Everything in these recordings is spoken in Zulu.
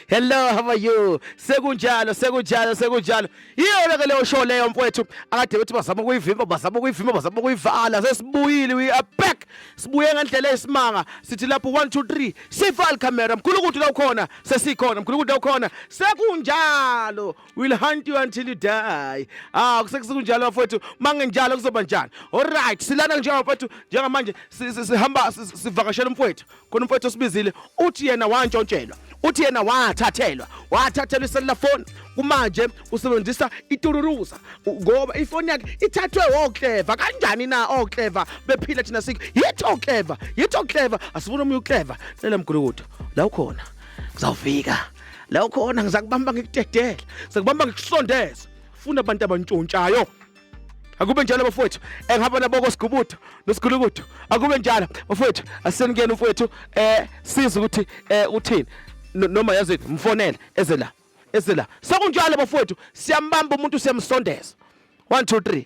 Hello how are you sekunjalo sekunjalo sekunjalo iyona ke leyo show leyo mfowethu akade bethi bazama ukuyivimba bazama ukuyivimba bazama ukuyivala sesibuyile we are back sibuye ngendlela esimanga sithi lapho 1 2 3 sival camera mkhulu ukuthi la ukhona sesikhona mkhulu ukuthi la ukhona sekunjalo will hunt you until you die ah kusekusekunjalo bafowethu mangenjalo kuzoba njani alright silana nje bafowethu njengamanje sihamba sivakashela umfowethu khona umfowethu osibizile uthi yena wantshontshelwa uthi yena wathathelwa wathathelwa iselula phone kumanje usebenzisa itururuza ngoba ifoni yakhe ithathwe okleva kanjani na okleva bephila thina sikho yithi okleva yithi okleva asifuna omunye ukleva lele mgulukudu la ukhona Ngizawufika. La ukhona ngizakubamba ngikudedele. Ngizakubamba ngikusondeze. Funa abantu abantshontshayo. Akube njalo bafowethu. Engihamba eh, naboko sigubutho nosigulukudu. Akube njalo bafowethu. Aseningena umfowethu eh siza ukuthi eh uthini. Noma yazi mfonele eze la. Eze la. Sekunjalo bafowethu siyambamba umuntu siyamsondeza. 1 2 3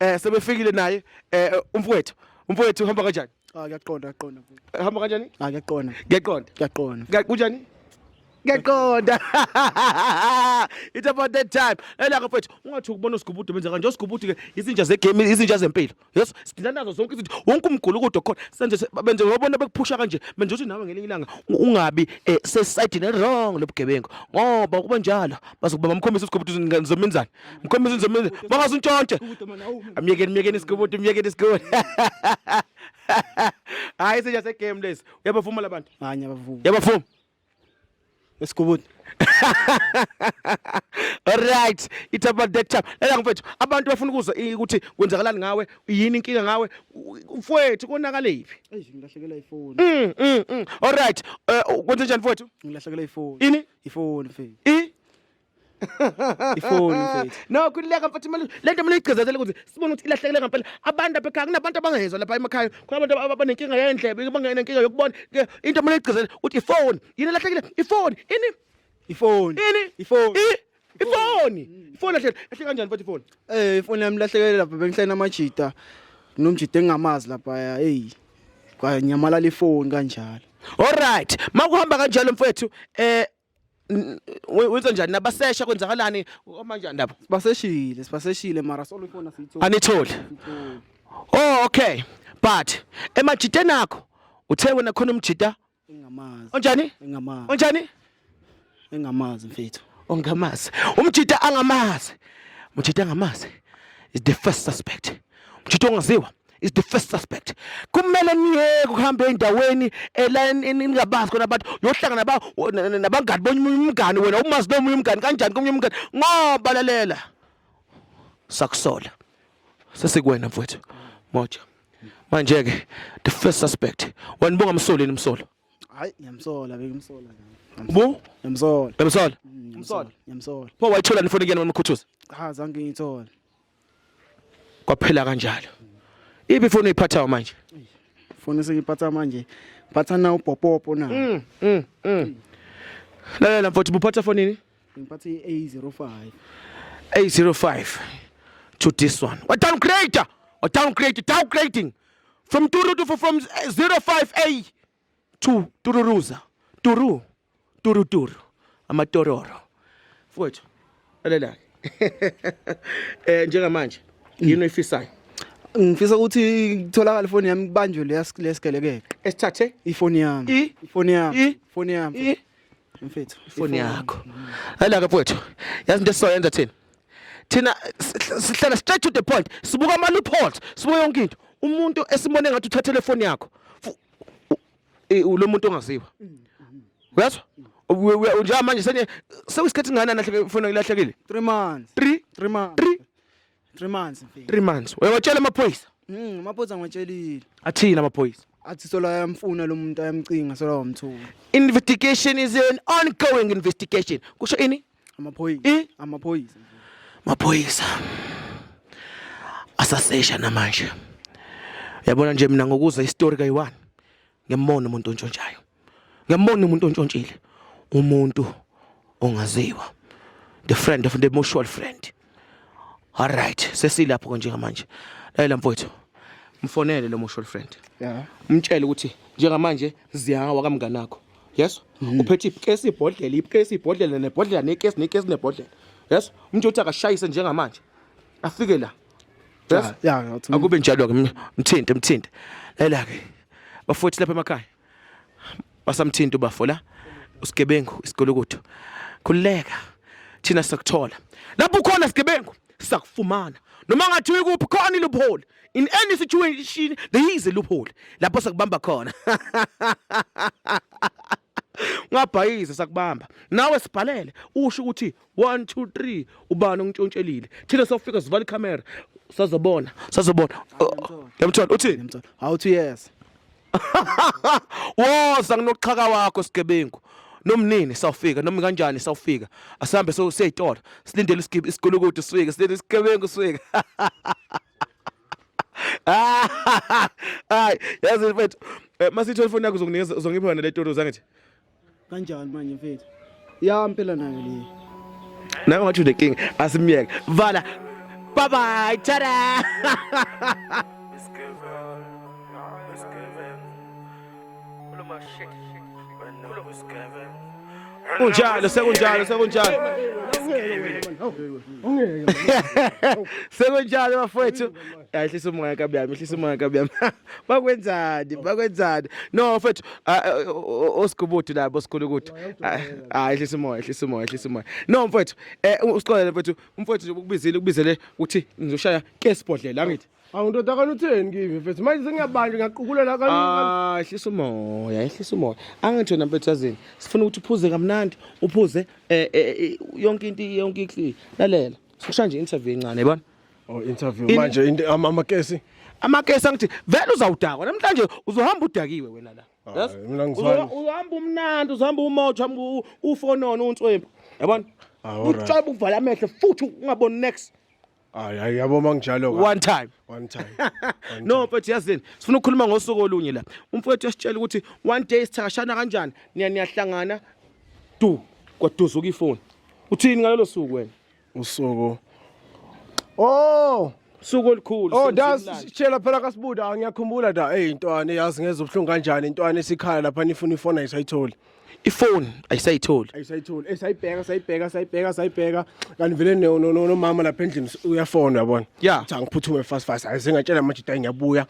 eh sebefikile naye eh umfowethu umfowethu uhamba kanjani ah kuyaqonda kuyaqonda eh, hamba kanjani ah kuyaqonda kuyaqonda kuyaqonda kunjani ngiyaqonda it's about that time elaka mfethu ungathi ukubona usigubudu benza kanje usigubudu ke izinja zegame izinja zempilo yes sidlala nazo zonke izinto wonke umgulu kodwa khona senze benze wabona bekuphusha kanje manje uthi nawe ngelinye ilanga ungabi eh, sesayidini wrong lobugebengu ngoba kuba njalo bazokubamba mkhombisa usigubudu ngizomenzani Mkhombisa inzomenzi. Makaze untshontshe. Amyekeni myekeni isigobodo myekeni isigobodo. Hayi senja se game lesi. Uyabavuma labantu. Hayi abavumi. Yabavuma. Esigobodo. Alright, it's about that time. Lala mfethu, abantu bafuna ukuzwa i- ukuthi kwenzakalani ngawe, yini inkinga ngawe, u- u- mfwethu konakalephi? Eish ngilahlekela ifoni. Mm, mm, mm. Alright, eh, kwenze njani mfwethu? Ngilahlekela ifoni. Ini? Ifoni mfethu. I ifoni mfethu no khulileka mfethu imali le nto mina igcizazele ukuthi sibone ukuthi ilahlekele ngampela abantu apha ekhaya kunabantu abangezwa lapha emakhaya kunabantu ab- abanenkinga yendlebe abanenkinga yokubona Ke into mina igcizazele ukuthi ifoni yini elahlekile ifoni ini ifoni ini ifoni I- ifoni ifoni lahlekile lahlekile kanjani mfethu ifoni eh ifoni yami lahlekele lapha bengihlena amajita nomjita engingamazi lapha hey kwanyamalala ifoni kanjalo Alright, makuhamba kanjalo mfethu eh wenza njani nabasesha kwenzakalani omanjani lapho sibaseshile sibaseshile mara solufona siyithola anitholi oh okay but emajiteni akho uthe wena khona umjita engamazi onjani engamazi onjani engamazi mfethu ongamazi umjita angamazi umjita angamazi is the first suspect umjita ongaziwa is the first suspect kumele niyeke ukuhamba endaweni eningabazi khona abantu yohlangana nabangani bonye umngani wena umazi nomunye umngani kanjani komunye umngani ngoba lalela sakusola sesikwena mfowethu moja manje ke the first suspect wena bongamsoleni umsolo hayi ngiyamsola bekimsola bu ngiyamsola ngiyamsola ngiyamsola pho wayithola nifoni kuyena wemkhuthuza cha zange ngiyithola kwaphela kanjalo ipi foni uyiphathayo manje foni sengiphatha manje ngiphatha na upopopo na mm, mm, mm. lalela mfowethu buphatha fonini ngiphatha i-a05 a05 to this one wa downgrade wa downgrade downgrading from 2 to from 05 a Two, tururuza. Turu. Turu turu. Amatororo. Mfowethu, lalela. Eh njengamanje yini oyifisayo? Ngifisa ukuthi kutholakale ifoni yami kubanjwe leya lesigelekeqe. Esithathe ifoni yami. I- Ifoni yami. I- Ifoni yami. i Mfethu. ifoni yakho. Hayi-ke mfowethu, yazi into esizoyenza thina. Thina s- s- sihlala straight to the point. Sibuka ama loopholes, sibuka yonke into. Umuntu esibone ngathi uthathele ifoni yakho. Fu- lo muntu ongaziwa uyazwa njengoba manje senye sekuyisikhathi ngani alahleke ifona ilahlekile 3 months 3 3 months 3 3 months 3 months uyawatshela amaphoyisa mhm amaphoyisa ngiwatshelile athina amaphoyisa athi sola yamfuna lo muntu ayamcinga sola wamthuka investigation is an ongoing investigation kusho ini amaphoyisa Eh? amaphoyisa maphoyisa asasesha namanje yabona nje mina ngokuza istory kayi-one ngiyambona umuntu ontshontshayo ngiyambona umuntu ontshontshile umuntu ongaziwa the friend of the mutual friend All right, sesilapho konje manje. Layela mfowethu. Mfonele lo mutual friend. Yeah. Umtshele ukuthi njengamanje ziyawa kamngane wakho. Yes? Mm. Uphethe ikesi ibhodlela, ikesi ibhodlela nebhodlela nekesi nekesi nebhodlela. Yes? Umuntu uthi akashayise njengamanje. Afike la. Yes? Yeah, yeah. Akube njalo ke mthinte mthinte. Layela ke. Bafowethu lapha emakhaya. basamthinta ubafo la usigebengu isigolokutho khululeka thina sakuthola lapho ukhona sigebengu sakufumana noma ngathi uyikuphi khona iloophole in any situation there is a loophole lapho sakubamba khona ungabhayiza sakubamba nawe sibhalele usho ukuthi 1 2 3 ubani ongitshontsheliile thina sofika sivala ikhamera sazobona sazobona yamthola uthini awuthi yes woza nginoqhaka wakho sigebengu nomnini sawufika noma kanjani sawufika asihambe so siyayitola silindele isigibhi isigulukudu sifike silindele isigebengu sifike hayi yazi mfethu eh, masithola ifoni yakho uzonginikeza uzongipha yona le toro zangithi kanjani manje mfethu ya mpela nayo le nawe ngathi unenkinga asimyeke vala bye bye tada kunjalo sekunjalo sekunjalo sekunjalo bafowethu ahlisa umoya kabiyami ehlisa umoya kabiyami bakwenzani bakwenzani no mfethu osigubudu labo sikhulu ukuthi hayi ehlisa umoya ehlisa umoya ehlisa umoya no mfethu eh usixolele mfethu umfethu nje ukubizile ukubizele ukuthi ngizoshaya ke sibhodlela angithi Awu ndoda kana utheni kimi mfethu manje sengiyabanjwa ngiyaqukulela kana Ah ehlisa umoya ehlisa umoya angithi wena mfethu yazini sifuna ukuthi uphuze kamnandi uphuze eh, eh, eh yonke into yonke ikli lalela sikusha nje interview encane yabona Oh interview In- manje into- ama- amakesi amakesi angithi vele uzawudakwa namhlanje uzohamba udakiwe wena la Hayi, Yazi? mina ngizwani. Uzoha- uzohamba umnandi uzohamba umoja umu- ufonona unswembu yabona Ah, alright. utshoba uvala amehlo futhi ungaboni next hayi hayi yabo manginjalo ka. one time one time no mfethu yazini sifuna ukukhuluma ngosuku olunye la umfethu yasitshela ukuthi one day sithakashana kanjani niya niyahlangana du kwaduzuka ifoni uthini ngalelo suku wena usuku oh suku olukhulu oh da sitshela phela kasibuda ngiyakhumbula da hey intwana yazi ngeza ubuhlungu kanjani intwana esikhala lapha nifuna ifona isayitholi ifoni ayisayitholi ayisayitholi esayibheka sayibheka sayibheka sayibheka kanti vele nomama lapha endlini uyafona yabona yeah cha ngiphuthume fast fast ayisengatshela manje da ngiyabuya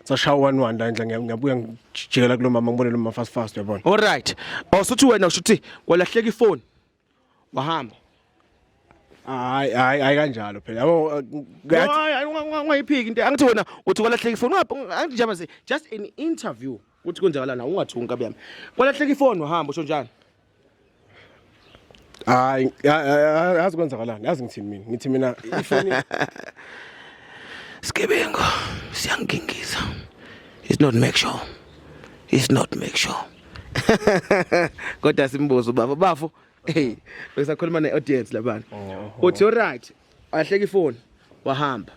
sashawa one one la endla ngiyabuya ngijikela kulomama ngibone lomama fast fast yabona all right awusuthi wena ushuthi kwalahleka ifoni wahamba hayi hayi hayi kanjalo phela yabo ungayiphiki into angithi wena uthi kwalahleka ifoni angithi njaba se just an interview ukuthi kwenzakalana ungathi unkabi yami kwalahleka ifoni wahamba usho njani hayi yazi kwenzakalani yazi ngithini mina ngithi mina ifoni Sigebengu siyangingiza. It's not make sure. is not make sure kodwa simbuzo baba bafo hey besakhuluma ne audience labana oh. uthi you right ahleka ifoni wahamba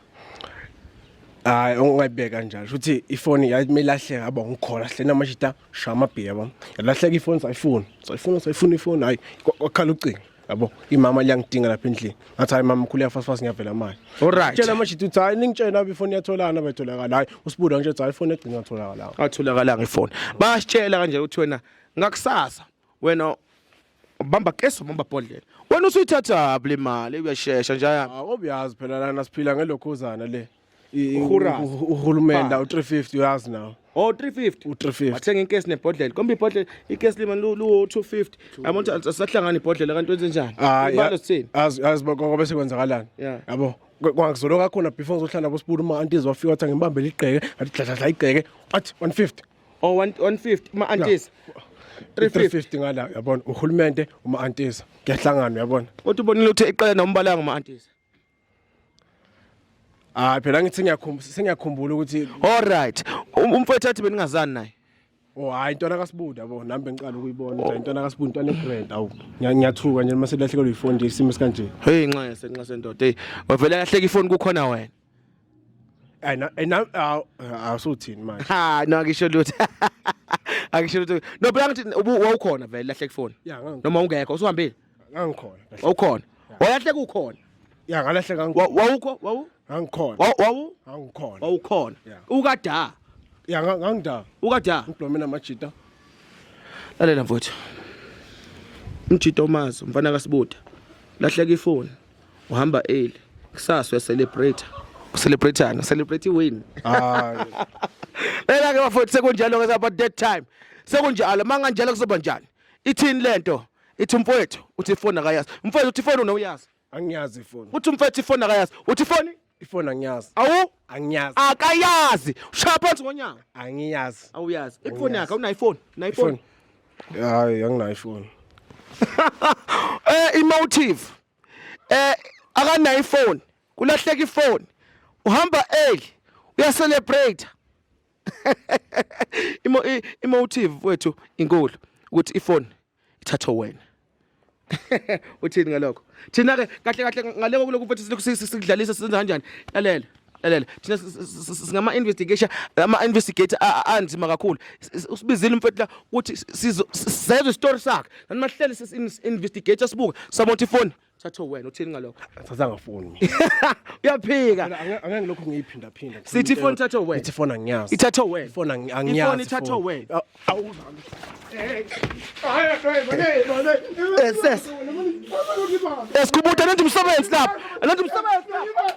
hayi ungayibeka kanjalo futhi ifoni yayimelahleka yaba ngikhona hle namashita shama bhiya bam yalahleka ifoni sayifuna sayifuna sayifuna ifoni hayi kwakhala ucingo yabo imama liyangidinga lapha endlini ngathi hayi mama mkhulu yafasifasi ngiyavela manje Alright. tshela amajita uthi hayi ningitshela lapho ifoni yatholana betholakala hayi usibuda ngitshe uthi hayi ifoni egcina yatholakala atholakalanga ifoni basitshela kanje ukuthi wena ngakusasa wena bamba keso bamba bhodlela wena usuyithathaphi le mali uyashesha njaya awu obuyazi phela lana siphila ngelokhuzana le Urhurazi. uhulumende Bani? u-350 uyazi nawo Oh 350. u-350 Wathenga inkesi nebhodlela. Kombe ibhodlela ikesi lima lu lu 250. Yabo ukuthi asahlangana ibhodlela kanti wenze njani? Hayi, Ibalo sithini? azi azi bakho bese kwenzakalani Yeah. yabo Kwa- kwangizolo kakhona before ngizohlala nabo sibulu uma antizi wafika wathi angimbambele igqeke athi dladladla igqeke athi 150 Oh 1 150 ma antis. 350. 350 ngala yabona uhulumende uma antiza kuyahlanganwa yabona Kodwa ubonile ukuthi iqela nombalanga ma antis. Hayi phela ngithi ngiyakhumbula sengiyakhumbula ukuthi All right. Um- Umfowethu athi beningazani naye. oh hayi intwana kaSibunda yabo nami bengiqala ukuyibona nje intwana kaSibunda intwana egrand awu ngiya- ngiyathuka nje uma selahlekelwe ifoni nje isimo sikanje. Hey nxese nxese ndoda. Hey, wavele kahleka ifoni kukhona wena. Hayi na eh, na awu awusuthini manje. Ha, no akisho lutho. Akisho lutho. No phela ngithi ubu- wawukhona vele lahleka ifoni. Ya ngangikho. Noma ungekho usuhambile. ngangikhona wawukhona walahle kukhona ya ngalahle ngangikhona wawukho wawu ngangikhona wawu ngangikhona wawukhona ukada ya ngangida ukada ngiblomela amajita lalela mfowethu umjita omazi umfana kasibuda lahleka ifoni uhamba early kusasa uyacelebrate ucelebrateana celebrate win hayi lela ke bafowethu sekunjalo ke sapha that time sekunjalo manganjalo kuzoba njani ithini lento ithi umfowethu uthi ifoni akayazi umfowethu uthi ifoni unowuyazi angiyazi ifoni uthi umfowethu ifoni akayazi uthi ifoni ifoni angiyazi awu angiyazi akayazi ushaya phansi ngonyaka angiyazi awuyazi ifoni yakhe unayo ifoni unayo ifoni hayi anginayo ifoni eh emotive eh akanayo ifoni kulahleka ifoni uhamba early uya celebrate imo emotive wethu inkulu ukuthi ifoni ithathwe wena uthini ngalokho thina ke kahle kahle ngaleko kulokhu futhi silokhu sidlalisa senza kanjani lalela lalela thina singama investigation ama investigator anzima kakhulu usibizile umfethu la ukuthi sizwe story sakhe nanimahlele sisi investigator sibuka sabona ifoni thatho wena uthini ngalokho thatha ngafoni uyaphika angeke lokho ngiyiphinda phinda sithi ifoni thatho wena ithi ifoni angiyazi ithatho wena ifoni angiyazi ifoni ithatho wena awuzami Yes, yes. Esikubuta nanti umsebenzi lapha. Nanti umsebenzi lapha.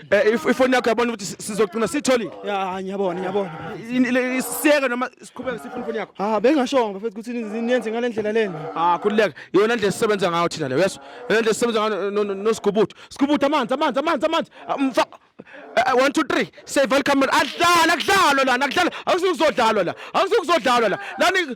Eh, if- ifoni yakho yabona ukuthi si- sizogcina siyitholile ya ngiyabona ngiyabona Ini- le- isiyeke noma siqhubeke sifuna ifoni yakho ha bengashongo bafethu ukuthi ni- niyenze ngale ndlela lena ah khululeka yona ndlela sisebenza ngayo thina leyo yeso yona ndlela sisebenza ngayo no- no- nosigubuthu sigubuthu amanzi amanzi amanzi amanzi Ah, mfa Eh, eh, one two three save all camera adlala kudlalwa lana kudlalwa awusuke kuzodlalwa la awusuke kuzodlalwa la lani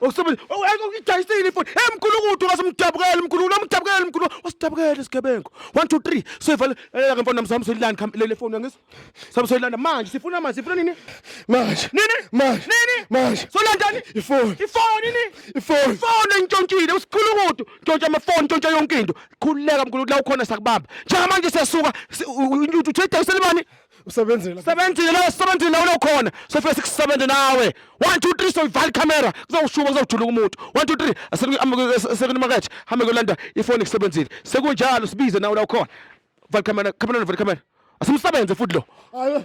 Ukusebenzisa ukuyidayisile ifoni. Hey mkhulu kude ungasimdabukela mkhulu, unamdabukela mkhulu. Wasidabukela isigebengu. 1 2 3 soyivala eh ke mfana namsami soyilanda kham lele foni ngis. Sami soyilanda manje sifuna manje sifuna nini? Manje. Nini? Manje. Nini? Manje. Solandani? Ifoni. Ifoni nini? Ifoni. Ifoni entshontshile usikhulu kude. Ntshontsha amafoni, ntshontsha yonke into. Khululeka mkhulu la ukhona sakubamba. Njengamanje siyasuka uthi udayisele bani? usebenzile sebenzile la sebenzile la ulokhona sofike sikusebenze nawe 1 2 3 soyivala camera kuzawushuba kuzawujuluka umuntu 1 2 3 sekuni market hambe kolanda ifoni kusebenzile sekunjalo sibize nawe la ukhona vala camera camera vala camera asimsebenze futhi lo ayo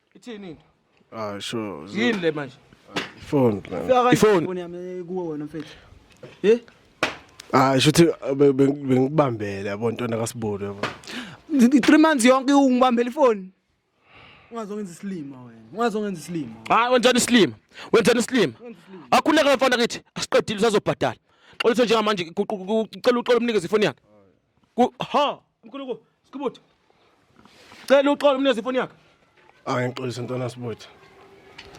Ithini into? Ah sure. Yini le manje? Phone. Ifoni yami kuwe wena mfethu. Eh? Ah shuthi bengikubambele yabo ntwana kaSibulu yabo. 3 months yonke ungibambela ifoni. Ungazongenza isilima wena. Ungazongenza isilima. Hayi wenzani isilima? Wenzani isilima? Akhuleka mfana kithi asiqedile usazobhadala. Xolisa njengamanje ucela uxola umnikeze ifoni yakhe. Ku ha Mkhuluko, Sikubuthi. Cela uxolo umnezi ifoni yakhe. Hayi ngixolise ntwana Sibuthi.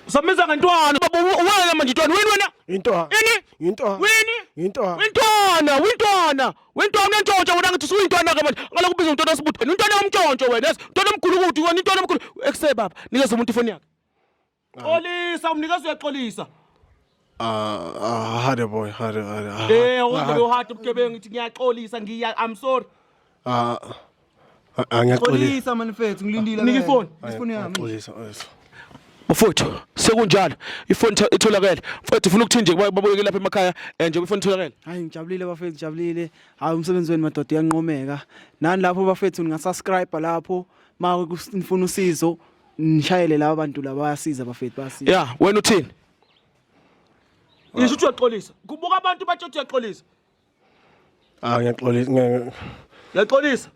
Usambiza ngentwana baba uwena manje ntwana wini wena? Intwana. Ini? Intwana. Wini? Intwana. Wintwana, wintwana. Wintwana unentshontsho wena ngithi usuyintwana ke manje. Ngaloku ubiza untwana Sibuthi. Wena untwana omtshontsho wena. Ntwana omkhulu ukuthi wena intwana omkhulu. Ekuse baba, nikeza umuntu ifoni yakhe. Xolisa umnikazi uyaxolisa. Ah, ah, hade boy, hade, hade. ah, Eh, awuze hade. bewuhada ubugebengu ngithi ngiyaxolisa ngiya I'm sorry. Ah, ah, ah, ngiyaxolisa. Xolisa manifethu ngilindile. Nika ifoni. Ifoni yami. Ngiyaxolisa, yes. Mfowethu sekunjalo ifoni itho- itholakele. Mfowethu ufuna ukuthini nje kuba- babuyeke lapha emakhaya eh, nje ifoni itholakele. Hayi ngijabulile bafethu ngijabulile. Hayi umsebenzi wenu madoda uyanqomeka. Nani lapho bafethu ningasubscribe lapho ma nifuna usizo nishayele laba bantu laba bayasiza bafethu bayasiza ya wena uthini ngisho ukuthi uyaxolisa kubuka abantu bathi uthi uyaxolisa ah ngiyaxolisa ngiya- uyaxolisa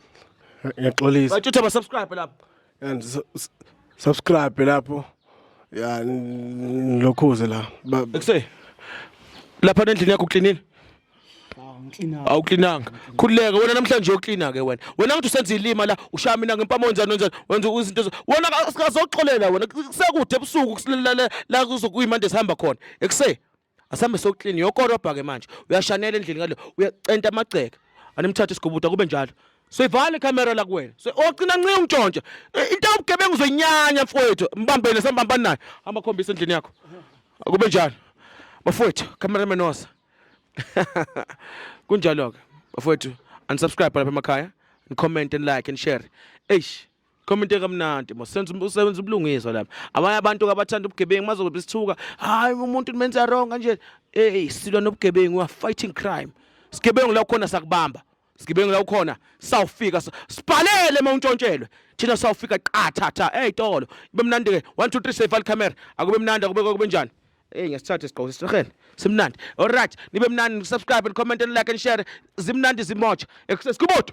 ngiyaxolisa bathi uthi abasubscribe lapho Ya, s- s- subscribe lapho ya n- lokhuze la Ba- ekuseni lapha nendlini yakho uklinile awuklinanga khululeke wena namhlanje uyoklina ke wena wena ngathi usenza ilima la ushaya mina ngempama wenzani wenzani wenza izinto ezo- wena ka- sikazoxolela wena kusekude ebusuku kusilela la- la kuzokuyimande sihamba khona ekuse asihambe soklini yokorobha ke manje uyashanela endlini ngale uyacenta amagceke animthathe isigubuda kube njalo soyivala ikhamera la kuwena so ogcina ncinci ungitshontshe I- into yobugebengu uzoyinyanya mfowethu mbambele sambambani naye hamba khombisa endlini yakho akube njalo bafowethu cameraman osa kunjalo ke bafowethu unsubscribe lapha emakhaya comment and like and share eish comment kamnandi mosenza um-, usebenza ubulungiswa lapha abanye abantu abathanda ubugebengu mazobe sithuka hayi umuntu nimenza wrong kanje hey silwa nobugebengu we are fighting crime sigebengu la khona sakubamba Sigebengu la ukhona sawufika sibhalele uma untshontshelwe thina sawufika qathatha eyitolo kube mnandi ke 1 2 3 safe al camera akube mnandi akube kube njani Hey ngesithathe sigqoko sesirhele simnandi all right nibe mnandi subscribe and comment and like and share zimnandi zimotsha ekusesi kubodo